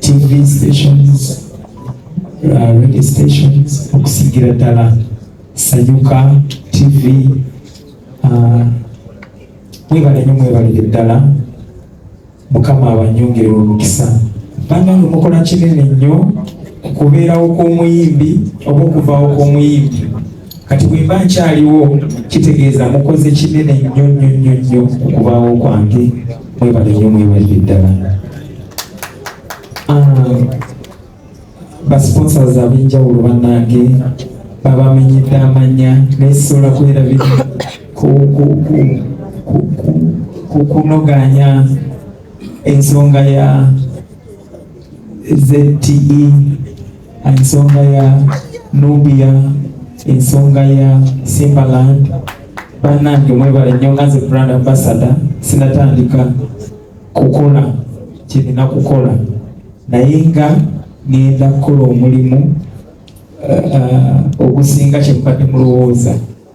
TV stations, uh, radio stations okusigira ddala Sanyuka TV uh, mwebale nyo mwebalire ddala mukama abanyongere omukisa banange mukola kinene nnyo kukubeerawo kw'omuyimbi oba okuvaawo kw'omuyimbi kati bwe mba nkyaliwo kitegeeza mukoze kinene nnyo nnyo nnyo nnyo okubaawo kwange mwebale nnyo mwebalire ddala ah, basponsors ab'enjawulo bannange babamenyedde amanya naye sisobola kwerabira kukunoganya ensonga ya ZTE ensonga ya Nubia ensonga ya Simbaland banange mwebale nnyo nga nze brand ambassador sinatandika kukola kirina kukola naye nga ngenda kukola omulimu uh, uh, ogusinga kyemubadde mulowooza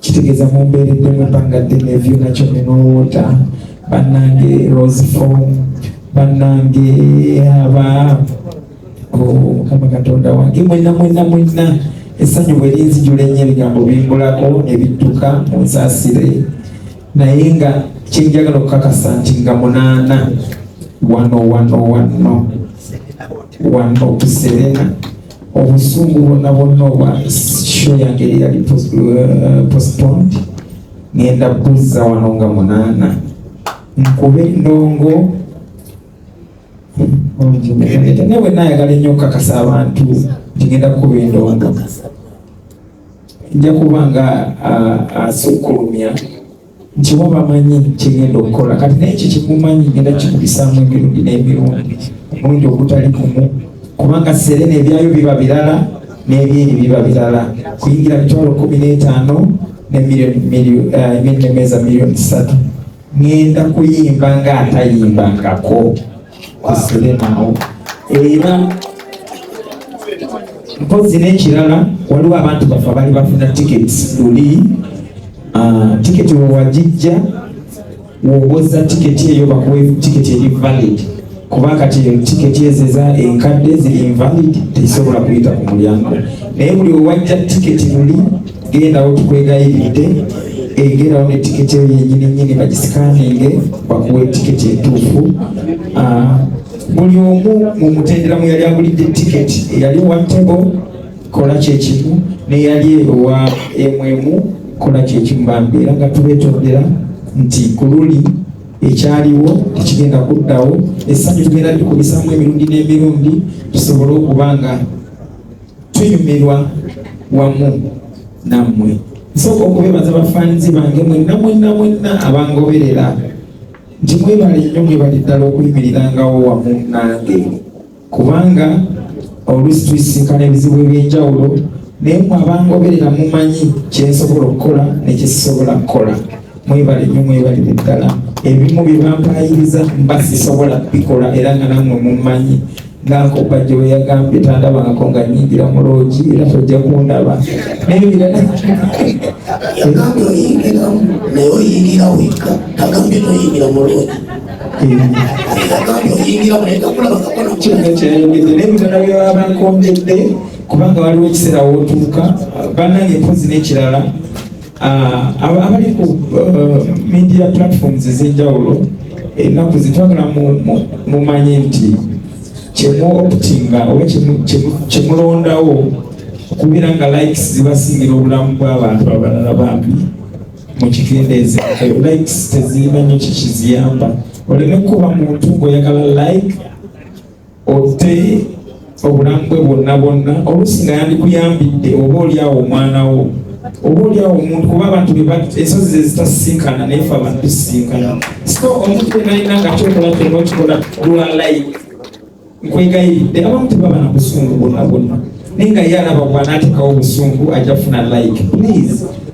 kitegeeza mumbeeredde mu bbanga ddene ebyona kyona n'owoota bannange rosefom bannange aba mukama katonda wange mwena mwena mwena essanyu bwe linzijula ennyo ebigambo bimbulako ne bidduka mu nsaasire naye nga kyenjagala okukakasa nti nga munaana wano wano wano wano tuserena obusungu bwonna bwonna obwa show yange eri yali uh, postponed ngenda buzza wano nga munaana nkube ndongo naye bwenna ayagala ennyo okukakasa abantu nti ngenda kukuba endongo nja kuba nga uh, asukkulumya uh, nti waba manyi kyegenda okukola kati naye ekyo kikumanyi genda kikubisaamu emirundi n'emirundi omulundi ogutali kumu kubanga serena ebyayo biba birala n'ebyeri biba birala kuyingira mitwalo kumi n'etaano nemirioni eh, emeza miliyoni satu ngenda kuyimba nga atayimbangako kusilemaawo era mpozi n'ekirala waliwo abantu baffe abali bafuna tiketi luli ah, tiketi wewagijja wowoza tiketi eyo bakuwe tiketi eri valid kuba kati tiketi ezo eza enkadde ziri invalid tezisobola kuyita ku mulyango naye buli wewajja tiketi luli gendawo tukwegayiridde egerawo ne tiketi eyo yenyini nyini bagisikaninge bakuwa etiketi entuufu ah, buli omu mu mutendera mu yali agulidde tiketi eyali owa tebo kola kyekimu neyali eyowa emwemu kola kyekimu bambi era nga tubetondera nti ku luli ekyaliwo tekigenda kuddawo essanyu tugenda likubisamu emirundi n'emirundi tusobole okuba nga tunyumirwa wamu nammwe nsooka okubebaza bafaanizi bange mwenna mwenna mwenna abangoberera nti mwebale nnyo mwebali ddala okuyimirirangawo wamu nange kubanga oluusi tuisinkana ebizibu ebyenjawulo naye mwe abangoberera mumanyi kyensobola okukola nekisisobola kukola mwebale nyo mwebalire ddala ebimu byebampayiriza mba sisobola bikola era nga namwe mummanyi ngankoppa gye weyagambye tandabangako nga nyingira mu loogi era tojja kundaba nebirala yagambye oyingiramu naye oyingira wekka tagambye noyingira mu loogi nebirala byebabankonjedde kubanga waliwo ekiseera wotuuka banange mpozi nekirala Ah, abali ku uh, media platforms ez'enjawulo ennaku zitwagala mumanye nti kyemu optinga oba kyemulondawo okubeera nga likes zibasingira obulamu bw'abantu abalala bambi mukikendeeze likes tezirina nyo kikiziyamba oleme kuba muntu ng'oyagala like otte obulamu bwe bwonna bwonna oluusi nga yandikuyambidde oba olyawo omwana wo oba olyawo omuntu kuba abantu ensozi zezitasisinkana naye fe abantu tusisinkana so omuntu yenayina nga kyokola kyona okikola lwa live nkwegayiridde abamu tebaba na busungu bwonna bwonna naye nga ye alaba bwanaatekawo obusungu ajja funa like please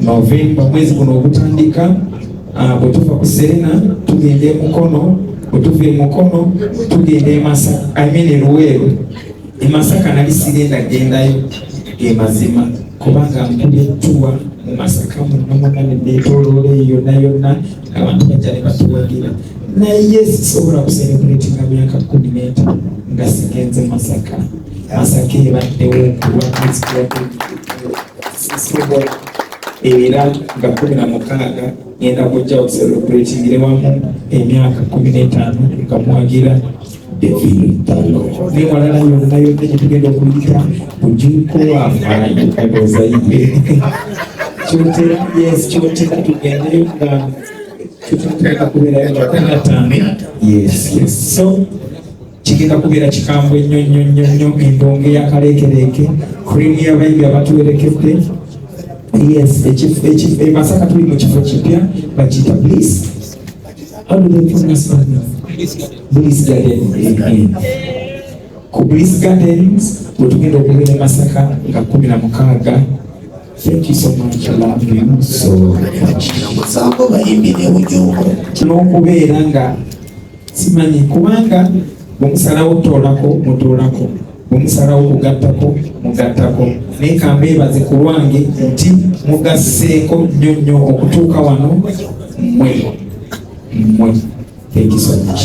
Novemba mwezi guno ogutandika ah, bwe tuva ku Serena tugenda e Mukono, bwe tuva e Mukono tugenda e Masaka, I mean e Luweero. E Masaka nali sigenda gendayo ge mazima kubanga nkubye ttuwa mu Masaka muno muna ne neetooloola eyo yonna yonna abantu bajja ne batuwagira naye sisobola kuselebuletinga myaka kkumi n'etaano nga sigenze Masaka. Masaka ebaddewo kulwa sisibwa era nga kumi na mukaaga ngenda kujja okuselebratingire wamu emyaka kumi n'etaano nga mwagira nemalala yonna yonna gyetugenda okuyita kujuko wafaayo ndowooza yiye kyotera yes kyotera tugendeyo nga tututeeka kubeerayo nga kumi na ttaano yes yes so kigenda kubeera kikambwe nnyo nnyo nnyo nnyo embonge ya kaleekereeke krimu y'abayimbi abatuwerekedde yes e masaka tuli mu kifo kipya bakiyita bliss bliss garden ku bliss gardens wetugenda okubeera e masaka nga kumi na mukaaga Thank you so much. I love you so much. Tunakubeera nga simanyi kubanga bwemusalawo okutoolako mutoolako bwemusalawo okugattako mugattako naye kambeebaze ku lwange nti mugasseeko nnyo nnyo okutuuka wano mmwe mmwe thank you so much